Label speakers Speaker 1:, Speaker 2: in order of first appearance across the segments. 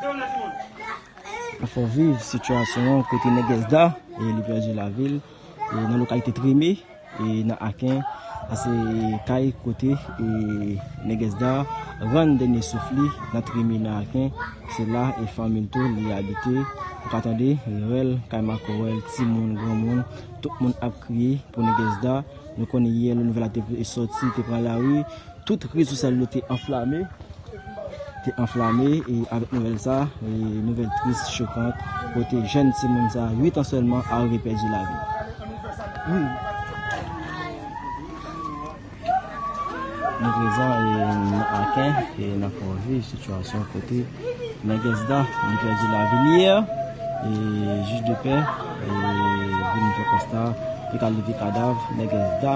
Speaker 1: Nan fè viv sitiyasyon an kote Nègès Da li pèdi lavi l nan lokalite Treme nan Aken a se kay kote Nègès Da rann dènye souf li nan Treme nan Aken se la e fanmi l tou li abite ou ka tande rèl kay makòrèl timoun granmoun tout moun ap kriye pou Nègès Da nou konnen yè lè nouvèl la te sòti te pran lari. Tout rezo sosyal yo te anflame, te anflame e avèk nouvèl sa, nouvèl tris, chokant, kote jèn timoun sa 8 an sèlman arive pèdi lavi l. Nou prezan nan Aken e n ap viv sitiyasyon kote Nègès-Da li pèdi lavi l yè e jij de pè vin fè konsta li ka leve kadav Nègès-Da.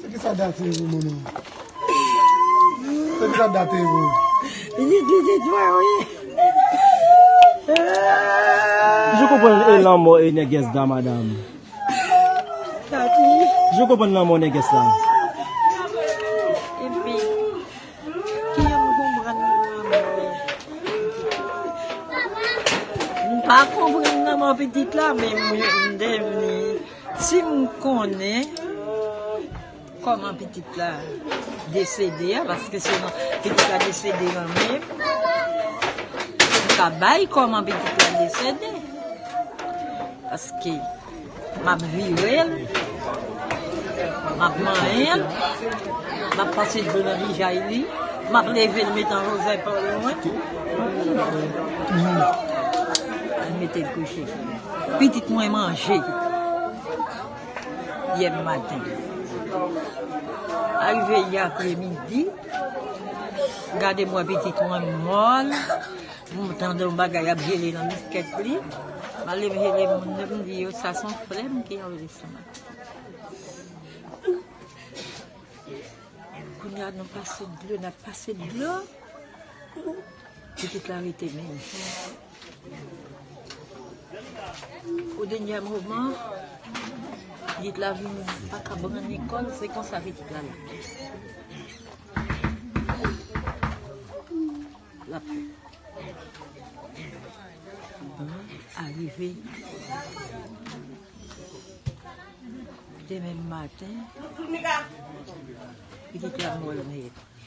Speaker 2: Se ki sa date ye pou moun ou? Se ki sa date ye pou ou? Li di se twa ou
Speaker 1: ye. Je konprann e lanmò e nègès da madam. Je konprann lanmò nègès la.
Speaker 3: Epi, kiyè m konprann lanmò e? M pa konprann lanmò pitit la men m devni. Sim konnen Koman pitit la desede a paske se nan pitit la desede nan menm Pou m ka bay Koman pitit la desede paske map virel map manyen l map pase dlo nan vijay li map level met an lojè pa lwen Pou l metel kouche. Pitit mwen manje yè maten. Arive yè apre midi. Gade mwen pitit mwen mòl. Mwen tande yon bagay ap jele nan biskèt li. Male mwen jele moun nan mwen di yo sa son frè mwen ki anvi sou mwen. Kounye a nou pase dlo nan pase dlo. Pitit la rete menm. Au denyè moman, gid la vin pa ka pran Nikòl, se konsa pitit la la. L ap fè. Arive demen maten, pitit la mòl nèt.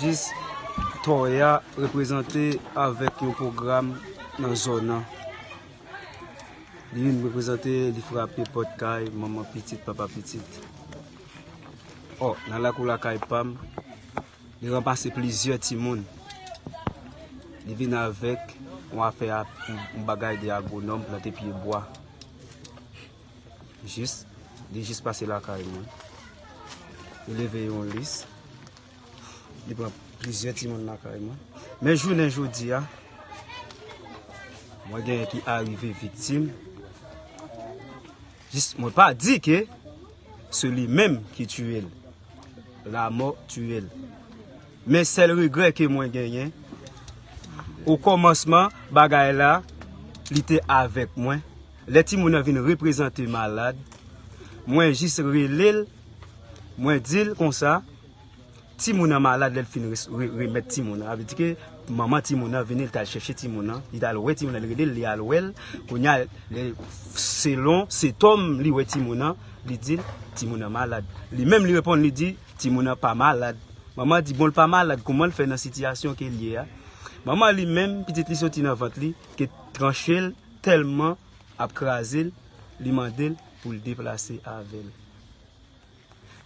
Speaker 4: Jis Toya reprezante avèk yon pwogram nan zòn nan. Li vin reprezante, li frape pòt kay manman pitit, papa pitit. O, nan lakou lakay pa m, li ranmase plizyè timoun. Li vin avèk yon afè, yon bagay de agwonòm, plante pye bwa. Jis, li jis pase lakay mwen. Li leve yon lis, Li pran plizyè timoun lakay mwen. Men jounen jodi a, mwen genyen ki arive viktim. Jis mwen pa di ke se li menm ki tiye l. La mò tiye l. Men sèl regrè ke mwen genyen, o kòmansman bagay la, li te avèk mwen. Lè timoun nan vin reprezante malad, mwen jis rele l, mwen di l konsa, timoun nan malad lè l fin remèt timoun nan. Avèdi ke manman timoun nan vini, li t al chèche timoun nan, li t al wè timoun nan, li rele l, li al wè l, kounye a, selon setòm li wè timoun nan, li di l, timoun nan malad. Li menm li reponn, li di, timoun nan pa malad. Manman di, bon l pa malad, kouman l fè nan sitiyasyon ke l ye a? Manman li menm, pitit li soti nan vant li, te tranche l. tèlman ap kraze l, li mande l pou l deplase avè l.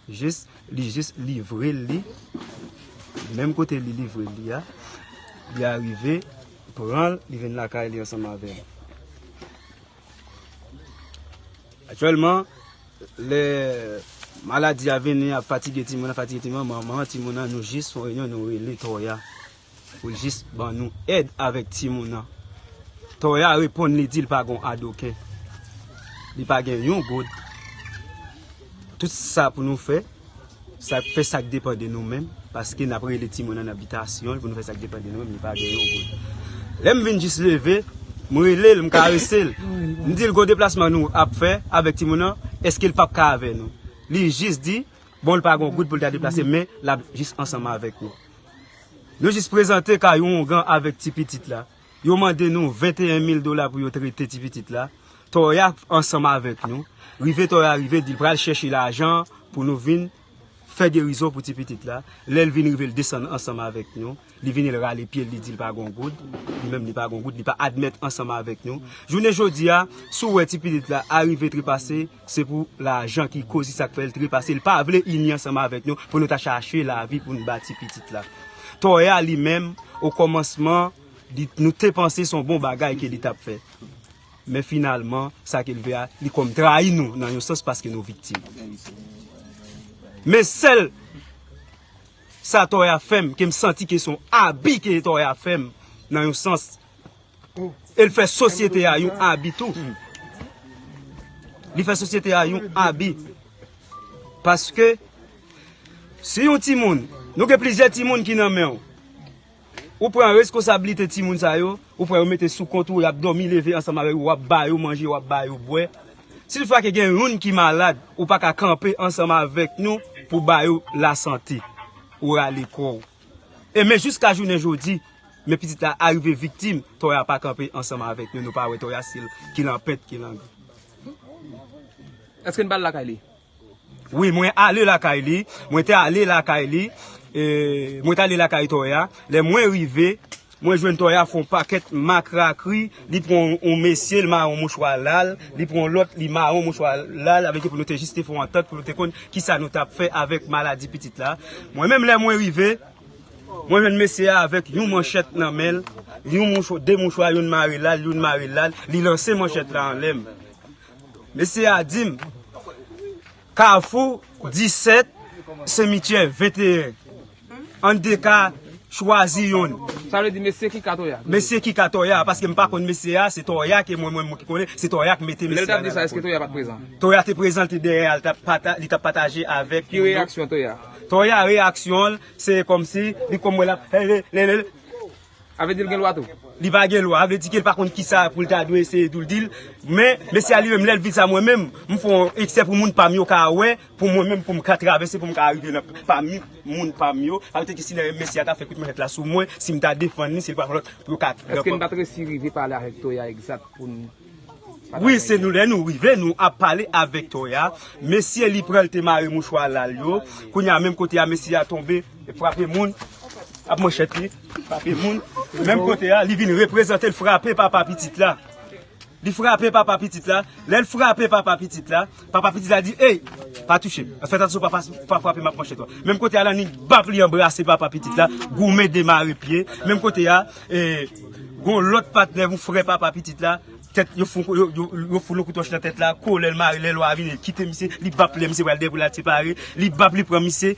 Speaker 4: Jis li jis livre l li, menm kote li livre l li a, li arive pran l, li vin lakay li ansanm avè l. Aktyèlman, lè maladi a vini ap fatige timoun nan, fatige timoun nan, manman timoun nan nou jis fon reyinyon nou rele Tòya. Pou jis ban nou èd avèk timoun nan. Toya reponn li di l pa gon adoken. Li pa gen yon goud. Tout sa pou nou fè, sa k fè sa k depan de nou menm, paske n ap rele timoun nan nan bitasyon l pou nou fè sa k depan de nou menm, li pa gen yon goud. Lè m vin jis leve, m rele l, m karese l. M di l gon deplasman nou ap fè avèk timoun nan, èske l p ap ka avè nou. Li jis di, bon l pa gon goud pou l ta deplase men l ap jis ansanm avèk nou. Yo jis prezante ka yon ougan avèk ti pitit la. Yo mande nou 21 mil dola pou yo trete ti pitit la. Toya ansanm avèk nou. Rive Toya rive di l pral chèche lajan an pou nou vin fè gerizon pou ti pitit la. Lè l vin rive l desann ansanm avèk nou. Li vini l rale pye l li di l pa gen yon goud. Li menm li pa gen yon goud. Li pa admèt ansanm avèk nou. Jounen jodi a, si w wè ti pitit la arive trepase. Se pou lajan ki koz li sak fèl trepase li pa vle ini ansanm avèk nou pou nou ta chache lavi poun bati pitit la Toya li menm o kòmansman li nou te panse son bon bagay ke li tap fè men finalman sa kel fè a li kòm trayi nou nan yon sans paske nou viktim men sèl sa Toya fèm kem santi ke son abi ke Toya fèm nan yon sans. E l fè sosyete a yon abi tou. Li fè sosyete a yon abi. Paske, si yon ti moun, nou gen plizyè ti moun ki nan men ou. Ou pran reskosabilite ti moun sa yo, ou pran yo mete sou kont ou, y ap dòmi leve ansanm avè ou, w ap ba yo manje, w ap ba yo bwè. Si l fwa ke gen youn ki malad, ou pa ka kanpe ansanm avèk nou pou ba yo lasante. Ou rale kò ou. E men jiska jounen jodi, men pitit la arive viktim, Toya pa kanpe ansanm avèk nou, nou pa wè Toya si l ki lan pent, ki lan.
Speaker 5: Eske n pa al lakay li? Wi, mwen
Speaker 4: ale lakay li, mwen te ale lakay li, mwen te ale lakay Toya, lè mwen rive. Mwen jwenn Toya fon pakèt makrakri li pran yon mesye li mare yon mouchwa lal li pran yon lòt li mare yon mouchwa lal avèk yo pou nou te jis te fon antant pou nou te konn kisa nou tap fè avèk maladi pitit la mwen menm lè mwen rive mwen jwenn mesye a avèk yon manchèt nan menl yon mouchwa de mouchwa youn mare lal youn mare lal li lanse manchèt la anlè mesye a dim. Kafou 17, semityè 21. An de ka, chwazi yonn. Sa vle di mesye ki ka
Speaker 5: Toya? Mesye ki ka Toya,
Speaker 4: paske m pa konn mesye a, se Toya ke mwen mwen ki konnen, se Toya ki mete mesye a nan la. Lè l t ap di sa, èske Toya pa t prezan?
Speaker 5: Toya te prezan, l te
Speaker 4: dèyè a, li t ap pataje avèk. Ki reyaksyon Toya?
Speaker 5: Toya reyaksyon
Speaker 4: l, se kòmsi, li kòm wè l ap, he he, le le le.
Speaker 5: Sa vle di l gen lwa tou? Li pa gen lwa, sa vle
Speaker 4: di ke l pa konn kisa pou l ta dwe eseye tou l di l. Men, mesye a li menm lè l vin sa mwen menm, m fè yon eksè pou moun pa m yo ka wè, pou mwen menm pou m ka travèse, pou m ka rive nan pami moun pa m yo. Sa vle di ke si lè mesye a ta fè kout manchèt la sou mwen, si m ta defann li, si l pa fè lòt pou yo ka. Eske n pa t resi rive
Speaker 5: pale avèk Toya egzat pou n. Wi se
Speaker 4: nou lè nou rive nou ap pale avèk toya mesye li pran te mare mouchwa lal yo kounya menm kote a mesye a tonbe e frape moun ap manchèt li frape moun menm kote a li vin reprezante l frape papa pitit la li frape papa pitit la lèl frape papa pitit la. Papa pitit la di ey pa touche m fèt atansyon papa si w pa frape m ap manche to menm kote a lannik bap li anbrase papa pitit la goumen demare pye menm kote a gon lòt patnè yon frè papa pitit la tèt yo foun yon kout wòch nan tèt la kole l mare lè lwa a vini kite misye li bap lè misye pral dèy pou l al separe li bap li pran misye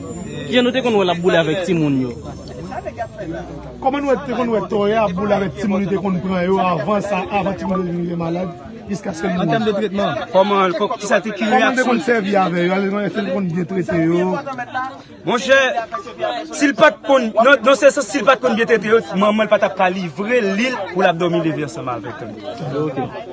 Speaker 1: Kijan nou te konn wè l ap boule avèk timoun yo?
Speaker 2: Kòman nou te konn wè Tòya ap boule avèk timoun li te konn pran yo avan sa, avan timoun yo te vin gen malad jiskaske li mouri?
Speaker 1: Kòman l
Speaker 4: te konn sèvi avè yo?
Speaker 2: Èske l te konn byen trete yo? Monchè,
Speaker 4: si l pa t konn, nan sèns la, si l pa t konn byen trete yo, manman l pa t ap ka livre li l pou l ap dòmi leve ansanm avèk l.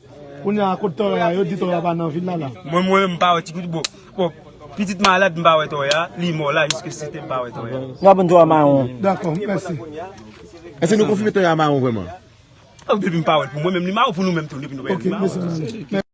Speaker 4: Kounye a
Speaker 2: kot Toya a yo di Toya pa nan vil la la. Mwen mwen menm m pa wè ti
Speaker 4: pitit bon pitit malad m pa wè Toya li mò la jiske site m pa wè Toya. Nou va bann Toya maron.
Speaker 1: Dakò mèsi.
Speaker 2: Eske
Speaker 6: nou konfime Toya maron
Speaker 4: vrèman?
Speaker 6: Depi
Speaker 4: m pa wè l pou
Speaker 6: mwen
Speaker 4: menm li maron pou
Speaker 6: nou
Speaker 4: menm tou depi nou
Speaker 2: pa
Speaker 6: wè l li
Speaker 4: maron.